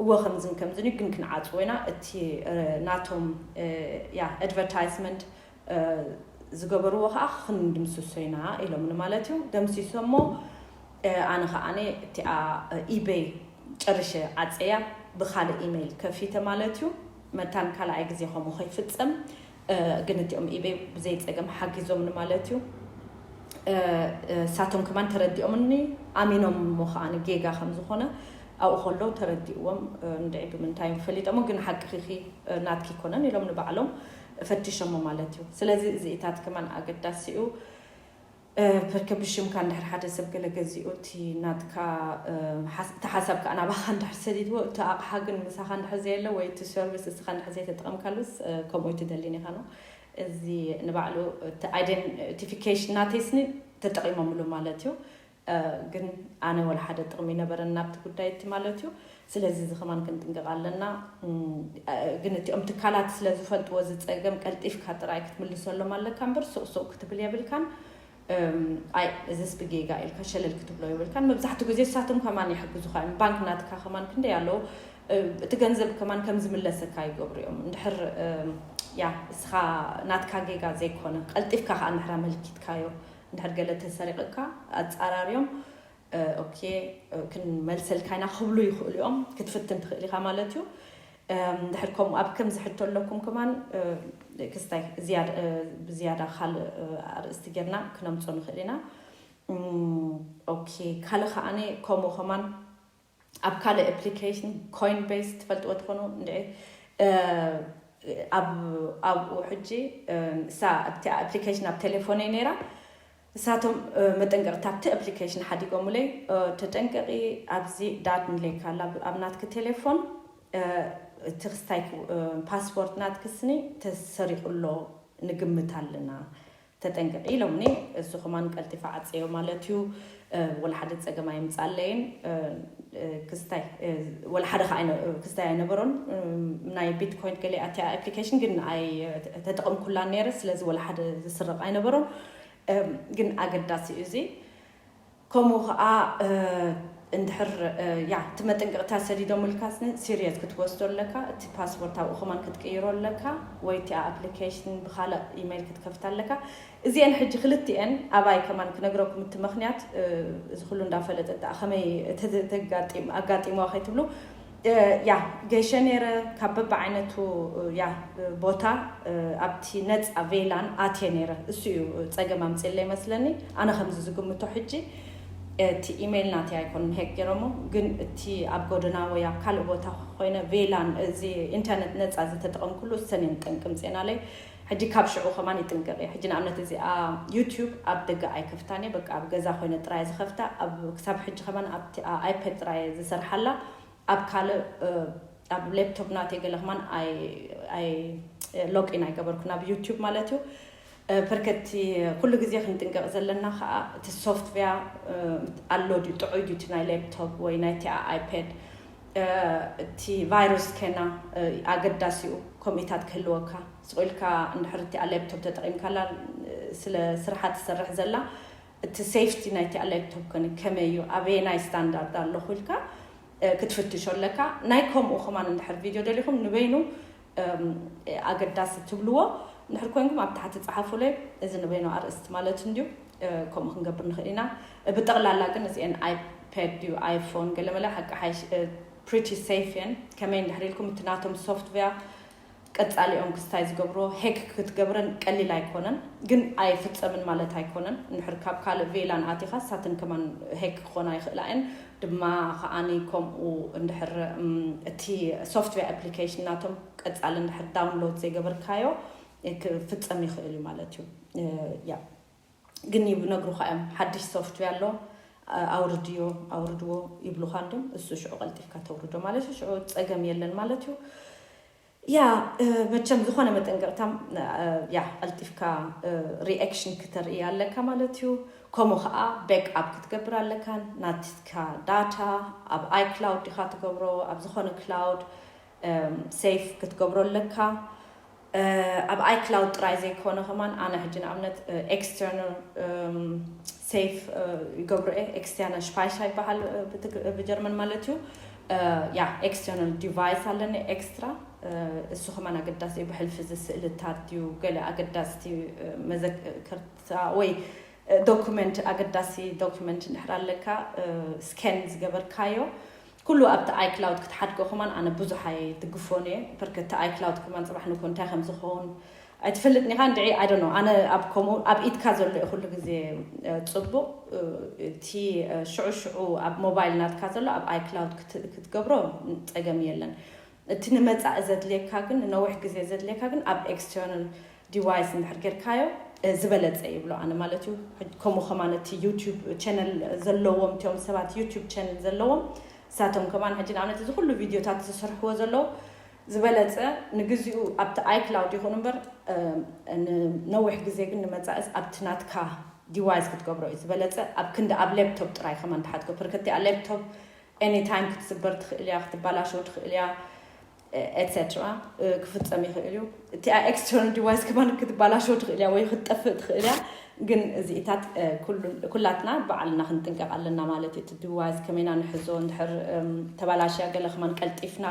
እወ ከምዝን ከምዝን እዩ ግን ክንዓጽዎ ኢና እቲ ናቶም ያ ኣድቨርታይስመንት ዝገበርዎ ከኣ ክንድምስሶ ኢና ኢሎምኒ ማለት እዩ ደምሲሶሞ ኣነ ከኣ እቲኣ ኢበይ ጨርሸ ዓጽየያ ብኻልእ ኢመይል ከፊተ ማለት እዩ መታን ካልኣይ ግዜ ከምኡ ከይፍጸም ግን እቲኦም ኢበይ ብዘይ ጸገም ሓጊዞምኒ ማለት እዩ። እሳቶም ከማን ተረዲኦምኒ ኣሚኖም እሞ ከኣ ጌጋ ከም ዝኾነ ኣብኡ ከለዉ ተረዲእዎም እንድዒ ብምንታይ እዮም ፈሊጦሞ ግን ሓቅኺኺ ናትኪ ኣይኮነን ኢሎም ንባዕሎም ፈቲሾሞ ማለት እዩ። ስለዚ እዚኢታት ከማን ኣገዳሲ እዩ። በርከ ብሽምካ እንድሕር ሓደ ሰብ ገለ ገዚኡ እቲ ናትካ እቲ ሓሳብ ከኣ ናባኻ እንድሕር ሰዲድዎ እቲ ኣቕሓ ግን ምሳኻ እንድሕር ዘየለ ወይ እቲ ሰርቪስ እስኻ እንድሕር ዘይተጠቐምካሉስ ከምኡ ኣይትደሊን ኢኻ ነው እዚ ንባዕሉ እቲ ኣይደንቲፊኬሽን ናተይስኒ ተጠቒሞምሉ ማለት እዩ ግን ኣነ ወላ ሓደ ጥቕሚ ነበረን ናብቲ ጉዳይ እቲ ማለት እዩ ስለዚ እዚ ከማን ክንጥንቀቅ ኣለና ግን እቲኦም ትካላት ስለ ዝፈልጥዎ እዚ ጸገም ቀልጢፍካ ጥራይ ክትምልሰሎም ኣለካ እምበር ሱቅ ሱቅ ክትብል የብልካን ኣይ እዚስ ብጌጋ ኢልካ ሸለል ክትብሎ የብልካን መብዛሕትኡ ግዜ እሳቶም ከማን ይሕግዙካ እዮም ባንክ ናትካ ከማን ክንደይ ኣለዉ እቲ ገንዘብ ከማን ከም ዝምለሰካ ይገብሩ እዮም እንድሕር ያ እስኻ ናትካ ጌጋ ዘይኮነ ቀልጢፍካ ከዓ እንድሕር ኣመልኪትካዮ እንድሕር ገለ ተሰሪቅካ ኣጻራርዮም ኦኬ ክንመልሰልካ ኢና ክብሉ ይኽእሉ እዮም ክትፍትን ትኽእል ኢኻ ማለት እዩ ድሕር ከምኡ ኣብ ከምዚ ሕቶ ኣለኩም ከማን ክስታይ ብዝያዳ ካልእ ኣርእስቲ ጌርና ክነምፆ ንኽእል ኢና ኦኬ ካልእ ከዓኒ ከምኡ ከማን ኣብ ካልእ ኣፕሊከሽን ኮይንበይስ ትፈልጥዎ ትኾኑ እንድዒ ኣብ ኣብኡ ሕጂ እሳ ኣብቲ ኣፕሊከሽን ኣብ ቴሌፎነይ ነይራ እሳቶም መጠንቀቕታ ኣብቲ ኣፕሊከሽን ሓዲጎምለይ ተጠንቀቒ ኣብዚ ዳት ንለይካ ኣላ ኣብ ናትኪ ቴሌፎን እቲ ክስታይ ፓስፖርት ናትኪ ስኒ ተሰሪቑ ኣሎ ንግምት ኣለና ተጠንቀቂ ኢሎምኒ እዚ ከማን ቀልጢፈ ዓጽየዮ ማለት እዩ ወላ ሓደ ጸገም ኣይምጻኣለይን ክስታይ ወላ ሓደ ከኣ ክስታይ ኣይነበሮን ናይ ቢትኮይን ገለ ኣትያ ኣፕሊኬሽን ግን ኣይ ተጠቐምኩላን ነይረ ስለዚ ወላ ሓደ ዝስረቕ ኣይነበሮን ግን ኣገዳሲ እዩ እዚ ከምኡ ከኣ እንድሕር ያዕ እቲ መጠንቀቅታ ሰዲዶምልካ ስነ ሲርየስ ክትወስዶ ኣለካ እቲ ፓስፖርት ኣብኡ ከማን ክትቅይሮ ኣለካ ወይ እቲኣ ኣፕሊከሽን ብካልእ ኢመይል ክትከፍታ ኣለካ እዚኤን ሕጂ ክልቲኤን ኣባይ ከማን ክነግረኩም እቲ መክንያት እዚ ኩሉ እንዳፈለጠት ደኣ ከመይ ተጋጢም ኣጋጢምዋ ከይትብሉ ያህ ገሸ ነይረ ካብ በብዓይነቱ ያህ ቦታ ኣብቲ ነጻ ቬላን ኣትየ ነይረ እሱ እዩ ጸገም ኣምጺለይ መስለኒ ኣነ ከምዚ ዝግምቶ ሕጂ እቲ ኢመይል ናተይ ኣይኮንን ሄክ ገይሮሞ ግን እቲ ኣብ ጎደና ወይ ኣብ ካልእ ቦታ ኮይነ ቬላን እዚ ኢንተርነት ነጻ ዝተጠቐምኩሉ እሰን እየን ጠንቂ ምጼናለይ ሕጂ ካብ ሽዑ ከማን ይጥንቀቅ እየ ሕጂ ንኣብነት እዚኣ ዩቱብ ኣብ ደገ ኣይከፍታን እየ በቃ ኣብ ገዛ ኮይነ ጥራይ እየ ዝከፍታ ኣብ ክሳብ ሕጂ ከማን ኣብቲ ኣይፐድ ጥራይ እየ ዝሰርሓላ ኣብ ካልእ ኣብ ሌፕቶፕ ናተይ ገለ ከማን ኣይ ኣይ ሎግ ኢን ኣይገበርኩን ኣብ ዩቱብ ማለት እዩ ፐርከ እቲ ኩሉ ግዜ ክንጥንቀቅ ዘለና ከኣ እቲ ሶፍትቨያ ኣሎ ድዩ ጥዑይ ድዩ እቲ ናይ ሌፕቶፕ ወይ ናይቲኣ ኣይፐድ እቲ ቫይረስ ከና ኣገዳሲኡ ከምኢታት ክህልወካ ስቁኢልካ እንድሕር እቲኣ ሌፕቶፕ ተጠቒምካላ ስለ ስርሓ ትሰርሕ ዘላ እቲ ሴፍቲ ናይቲኣ ሌፕቶፕ ከን ከመይ እዩ ኣበየናይ ስታንዳርድ ኣለኹ ኢልካ ክትፍትሾ ኣለካ ናይ ከምኡ ከማን እንድሕር ቪድዮ ደሊኹም ንበይኑ ኣገዳሲ እትብልዎ እንድሕር ኮይንኩም ኣብ ታሕቲ ጸሓፉለይ። እዚ ንበይኑ ኣርእስቲ ማለት እንድዩ፣ ከምኡ ክንገብር ንኽእል ኢና። ብጠቕላላ ግን እዚኤን ኣይፓድ ድዩ ኣይፎን ገለመለ ሓቂ ሓይሽ ፕሪቲ ሴፍ እየን። ከመይ እንድሕር ኢልኩም እቲ ናቶም ሶፍትዌር ቀጻሊኦም ክስታይ ዝገብሮ ሄክ ክትገብረን ቀሊል ኣይኮነን፣ ግን ኣይፍጸምን ማለት ኣይኮነን። እንድሕር ካብ ካልእ ቬላን ኣቲኻ ሳተን ከማን ሄክ ክኾና ይኽእላ እየን። ድማ ከኣ ከምኡ እንድሕር እቲ ሶፍትዌር ኣፕሊኬሽን ናቶም ቀጻሊ እንድሕር ዳውንሎድ ዘይገበርካዮ ክፍጸም ይኽእል እዩ ማለት እዩ ያ ግን ይነግሩኻ እዮም ሓድሽ ሶፍትዌር ኣሎ ኣውርድዮ ኣውርድዎ ይብሉኻ እንድም እሱ ሽዑ ቀልጢፍካ ተውርዶ ማለት እዩ ሽዑ ጸገም የለን ማለት እዩ ያእ መቸም ዝኾነ መጠንቀቅታ ያእ ቀልጢፍካ ሪኣክሽን ክተርኢ ኣለካ ማለት እዩ ከምኡ ከኣ ቤክ ኣፕ ክትገብር ኣለካ ናትካ ዳታ ኣብ ኣይ ክላውድ ዲካ ትገብሮ ኣብ ዝኾነ ክላውድ ሴፍ ክትገብሮ ኣለካ ኣብ ኣይ ክላውድ ጥራይ ዘይኮነ ከማን ኣነ ሕጂ ንኣብነት ኤክስተርናል ሴፍ ይገብሮ እየ ኤክስተርናል ሽፓይሻ ይበሃል ብጀርመን ማለት እዩ ያ ኤክስተርናል ዲቫይስ ኣለኒ ኤክስትራ እሱ ከማን ኣገዳሲ እዩ ብሕልፊ እዚ ስእልታት ድዩ ገለ ኣገዳስቲ መዘከርታ ወይ ዶኩመንት ኣገዳሲ ዶኩመንት እንድሕር ኣለካ ስከን ዝገበርካዮ ኩሉ ኣብቲ ኣይክላውድ ክትሓድጎ ከማን ኣነ ብዙሓ ይድግፎን እየ በርከቲ ኣይክላውድ ከማን ፅባሕ ንኮ እንታይ ከም ዝኸውን ኣይትፈልጥን ኢኻ እንድዒ ኣይ ዶንት ኖው ኣነ ኣብ ከምኡ ኣብ ኢድካ ዘሎ እዩ ኩሉ ግዜ ጽቡቕ እቲ ሽዑ ሽዑ ኣብ ሞባይል ናትካ ዘሎ ኣብ ኣይ ክላውድ ክትገብሮ ጸገም የለን እቲ ንመጻኢ ዘድልየካ ግን ንነዊሕ ግዜ ዘድልየካ ግን ኣብ ኤክስተርናል ዲቫይስ እንድሕር ጌርካዮ ዝበለጸ ይብሎ ኣነ ማለት እዩ ከምኡ ከማን እቲ ዩቲዩብ ቻነል ዘለዎም እቲኦም ሰባት ዩቲዩብ ቻነል ዘለዎም ንሳቶም ከማን ሕጂ ንኣብነት እዚ ኩሉ ቪድዮታት ዝስርሕዎ ዘለዉ ዝበለጸ ንግዚኡ ኣብቲ ኣይክላውድ ይኹን እምበር ንነዊሕ ግዜ ግን ንመጻኢስ ኣብቲ ናትካ ዲዋይስ ክትገብሮ እዩ ዝበለጸ ኣብ ክንዲ ኣብ ሌፕቶፕ ጥራይ ከማን ትሓትጎ ፕርከቲኣ ሌፕቶፕ ኤኒ ታይም ክትስበር ትኽእል እያ ክትባላሸው ትኽእል እያ ኤትሴትራ ክፍጸም ይኽእል እዩ እቲኣ ኤክስተርናል ዲቫይስ ከማን ክትባላሸው ትኽእል እያ ወይ ክትጠፍእ ትኽእል እያ ግን እዚኢታት ኩላትና በዓልና ክንጥንቀቕ ኣለና ማለት እዩ እቲ ዲቫይስ ከመይና ንሕዞ እንድሕር ተባላሽያ ገለ ከማን ቀልጢፍና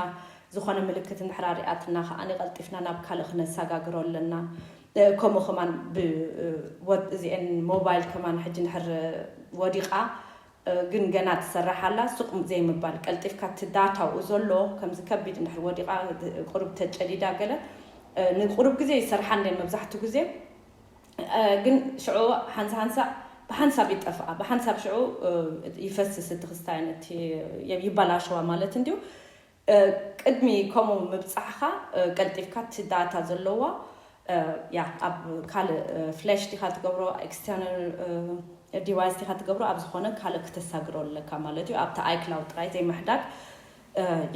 ዝኾነ ምልክት እንድሕር ኣርኣያትና ከኣ ቀልጢፍና ናብ ካልእ ክነሳጋግሮ ኣለና። ከምኡ ከማን ብ ወብ እዚኤን ሞባይል ከማን ሕጂ እንድሕር ወዲቃ ግን ገና ትሰርሕ ኣላ ሱቅ ዘይምባል ቀልጢፍካ እቲ ዳታ ኣብኡ ዘሎ ከምዚ ከቢድ እንድሕር ወዲቃ ቁሩብ ተጨዲዳ ገለ ንቁሩብ ግዜ ይሰርሓ እንድየን መብዛሕቱ ግዜ ግን ሽዑ ሓንሳ ሓንሳእ ብሓንሳብ ይጠፍኣ ብሓንሳብ ሽዑ ይፈስስ እቲ ክስታየን እቲ ይባላሸዋ ማለት እንድዩ። ቅድሚ ከምኡ ምብጻሕኻ ቀልጢፍካ እቲ ዳታ ዘለዎ ያ ኣብ ካልእ ፍላሽ ዲኻ ትገብሮ ኤክስተርናል ዲቫይስ ዲኻ ትገብሮ ኣብ ዝኾነ ካልእ ክተሳግሮ ኣለካ ማለት እዩ ኣብቲ ኣይክላውድ ጥራይ ዘይምሕዳግ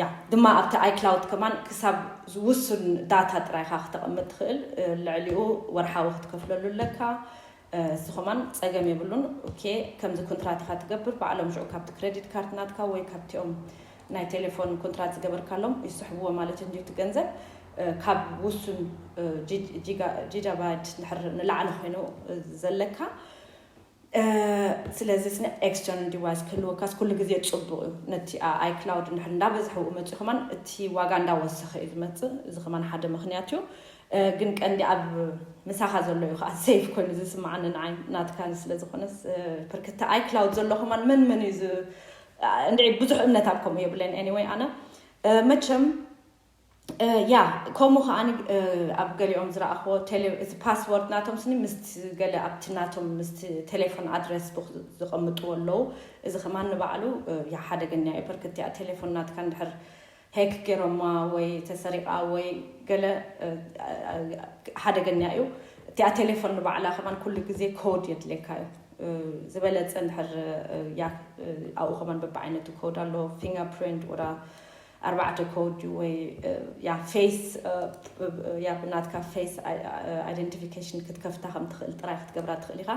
ያ ድማ ኣብቲ ኣይክላውድ ከማን ክሳብ ዝውሱን ዳታ ጥራይካ ክተቐምጥ ትኽእል ልዕሊኡ ወርሓዊ ክትከፍለሉ ኣለካ እዚ ከማን ጸገም የብሉን ኦኬ ከምዚ ኩንትራት ኢካ ትገብር ባዕሎም ሽዑ ካብቲ ክረዲት ካርድ ናትካ ወይ ካብቲኦም ናይ ቴሌፎን ኩንትራት ዝገበርካሎም ይስሕብዎ ማለት እዩ እንድዩ እቲ ገንዘብ ካብ ውሱን ጂጃባይት ድሕር ንላዕሊ ኮይኑ ዘለካ ስለዚ ስነ ኤክስተርናል ዲቫይስ ክህልወካስ ኩሉ ግዜ ጽቡቅ እዩ ነቲ ኣይ ክላውድ እንድሕር እንዳበዝሐ መጽዩ ከማን እቲ ዋጋ እንዳወሰኸ እዩ ዝመጽእ እዚ ከማን ሓደ ምክንያት እዩ ግን ቀንዲ ኣብ ምሳኻ ዘሎ እዩ ከኣ ሰይፍ ኮይኑ ዝስማዓኒ ንዓይ ናትካን ስለ ዝኾነስ ብርክቲ ኣይ ክላውድ ዘሎ ከማን መን መን እዩ ዝ እንድዒ ብዙሕ እምነት ኣብ ከምኡ የብለን ኤኒወይ ኣነ መቸም ያ ከምኡ ከኣ ኣብ ገሊኦም ዝረኣኽዎ እቲ ፓስወርድ ናቶም ስኒ ምስ ገለ ኣብቲ ናቶም ምስ ቴሌፎን ኣድረስ ቡክ ዝቐምጥዎ ኣለዉ እዚ ከማን ንባዕሉ ያ ሓደገኛ እዩ ብርክቲ እያ ቴሌፎን ናትካ እንድሕር ሄክ ጌሮማ ወይ ተሰሪቃ ወይ ገለ ሓደገኛ እዩ እቲኣ ቴሌፎን ንባዕላ ከማን ኩሉ ግዜ ኮድ የድልየካ እዩ ዝበለጸ እንድሕር ያ ኣብኡ ከማን በብዓይነቱ ኮድ ኣሎ ፊንገር ፕሪንት ወዳ ኣርባዕተ ኮድ እዩ ወይ ያ ፌስ ያ ብናትካ ፌስ ኣይደንቲፊኬሽን ክትከፍታ ከም ትኽእል ጥራይ ክትገብራ ትኽእል ኢኻ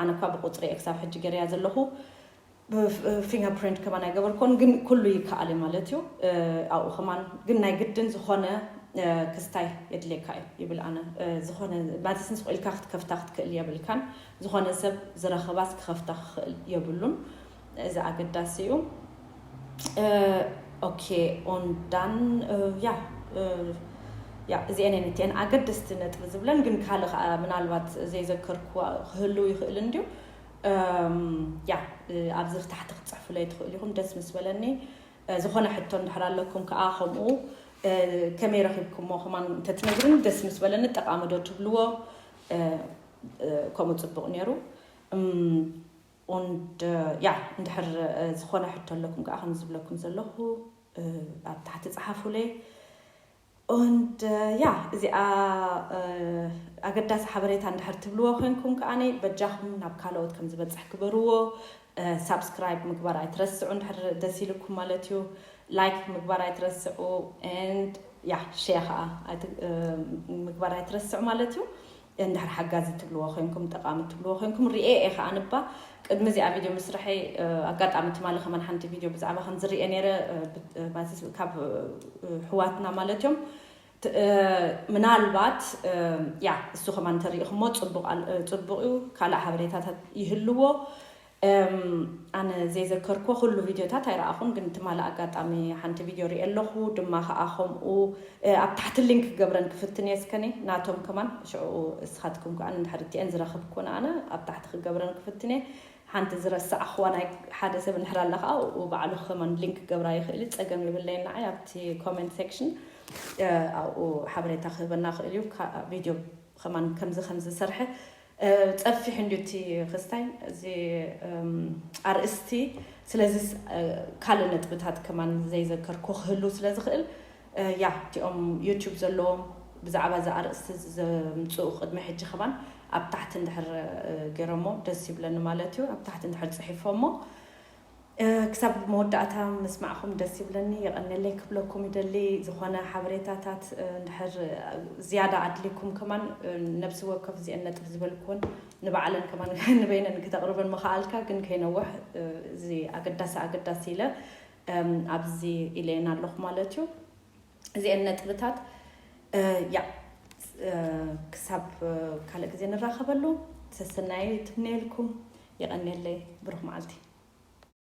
ኣነ እኳ ብቁጽሪ እየ ክሳብ ሕጂ ገረያ ዘለኹ ብፊንገርፕሪንት ከማን ኣይገበርኮን ግን ኩሉ ይከኣል እዩ ማለት እዩ ኣብኡ ከማን ግን ናይ ግድን ዝኾነ ክስታይ የድልየካ እዩ ይብል ኣነ ዝኾነ ማለትስ ንስኹ ኢልካ ክትከፍታ ክትክእል የብልካን ዝኾነ ሰብ ዝረኸባስ ክኸፍታ ክኽእል የብሉን እዚ ኣገዳሲ እዩ ኦኬ ኦንዳን ያ ያ እዚአን እየን እቲአን ኣገደስቲ ነጥቢ ዝብለን ግን ካልእ ከዓ ምናልባት ዘይዘከርኩ ክህልው ይኽእል እንድዩ ያ ኣብዚ ታሕቲ ክትፅሕፉለይ ትኽእሉ ኢኹም ደስ ምስ በለኒ ዝኾነ ሕቶ እንድሕር ኣለኩም ከዓ ከምኡ ከመይ ረኺብኩሞ ከማን እንተትነግሩኒ ደስ ምስ በለኒ ጠቃሚ ዶ ትብልዎ ከምኡ ፅቡቅ ነይሩ und ያ እንድሕር ዝኾነ ሕቶ ኣለኩም ከዓ ከም ዝብለኩም ዘለኹ ኣብ ታሕቲ ፀሓፉለይ Und ja እዚኣ ኣገዳሲ ሓበሬታ እንድሕር ትብልዎ ኮንኩም ከኣ በጃኹም ናብ ካልኦት ከም ዝበጽሕ ግበርዎ ሳብስክራይብ ምግባር ኣይትረስዑ እንድሕር ደስ ኢልኩም ማለት እዩ ላይክ ምግባር ኣይትረስዑ and ያ ሼር ከኣ ምግባር ኣይትረስዑ ማለት እዩ እንድሕር ሓጋዚ እትብልዎ ኮይንኩም ጠቃሚ እትብልዎ ኮይንኩም ሪኤ እየ ከኣ እባ ቅድሚ እዚኣ ቪድዮ ምስርሐይ ኣጋጣሚ ትማሊ ከማን ሓንቲ ቪድዮ ብዛዕባ ከምዚ ሪኤ ነይረ ማለት ካብ ሕዋትና ማለት እዮም ምናልባት ያ እሱ ከማን እንተሪኢኹሞ ጽቡቅ ጽቡቅ እዩ ካልእ ሓበሬታታት ይህልዎ እም ኣነ ዘይዘከርክዎ ኩሉ ቪድዮታት ኣይረኣኹን ግን ትማሊ ኣጋጣሚ ሓንቲ ቪድዮ ሪኤ ኣለኹ ድማ ከኣ ከምኡ ኣብ ታሕቲ ሊንክ ክገብረን ክፍትን እየ ስከኒ ናቶም ከማን ሽዑ እስኻትኩም ከኣ እንድሕር እቲኤን ዝረኽብክወን ኣነ ኣብ ታሕቲ ክገብረን ክፍትን እየ ሓንቲ ዝረሳዕኽዋ ናይ ሓደ ሰብ እንድሕር ኣላ ከኣ ኣብኡ ባዕሉ ከማን ሊንክ ክገብራ ይኽእል እዩ ጸገም የብለይን ንዓይ ኣብቲ ኮሜንት ሴክሽን ኣብኡ ሓበሬታ ክህበና ይኽእል እዩ ቪድዮ ከማን ከምዚ ከምዚ ዝሰርሐ ጸፊሑ እንድዩ እቲ ክስታይ እዚ ኣርእስቲ ስለዚስ ካልእ ነጥብታት ከማን ዘይዘከርኩ ክህልው ስለ ዝኽእል ያህ እቲኦም ዩቱብ ዘለዎም ብዛዕባ እዚ ኣርእስቲ እዚ ዘምጽኡ ቅድሚ ሕጂ ከማን ኣብ ታሕቲ እንድሕር ገይሮሞ ደስ ይብለኒ ማለት እዩ ኣብ ታሕቲ እንድሕር ጽሒፎሞ ክሳብ መወዳእታ ምስማዕኹም ደስ ይብለኒ የቐኔለይ ክብለኩም ይደሊ ዝኾነ ሓበሬታታት እንድሕር ዝያዳ ኣድልይኩም ከማን ነብሲ ወከፍ እዚኤን ነጥብ ዝበልኩወን ንባዕለን ከማን ንበይነን ክተቕርበን ምኸኣልካ ግን ከይነውሕ እዚ ኣገዳሲ ኣገዳሲ ኢለ ኣብዚ ኢለየን ኣለኹ ማለት እዩ እዚኤን ነጥብታት እያ ክሳብ ካልእ ግዜ ንራኸበሉ ሰሰናዩ ትምነየልኩም የቐኔለይ ብሩኽ መዓልቲ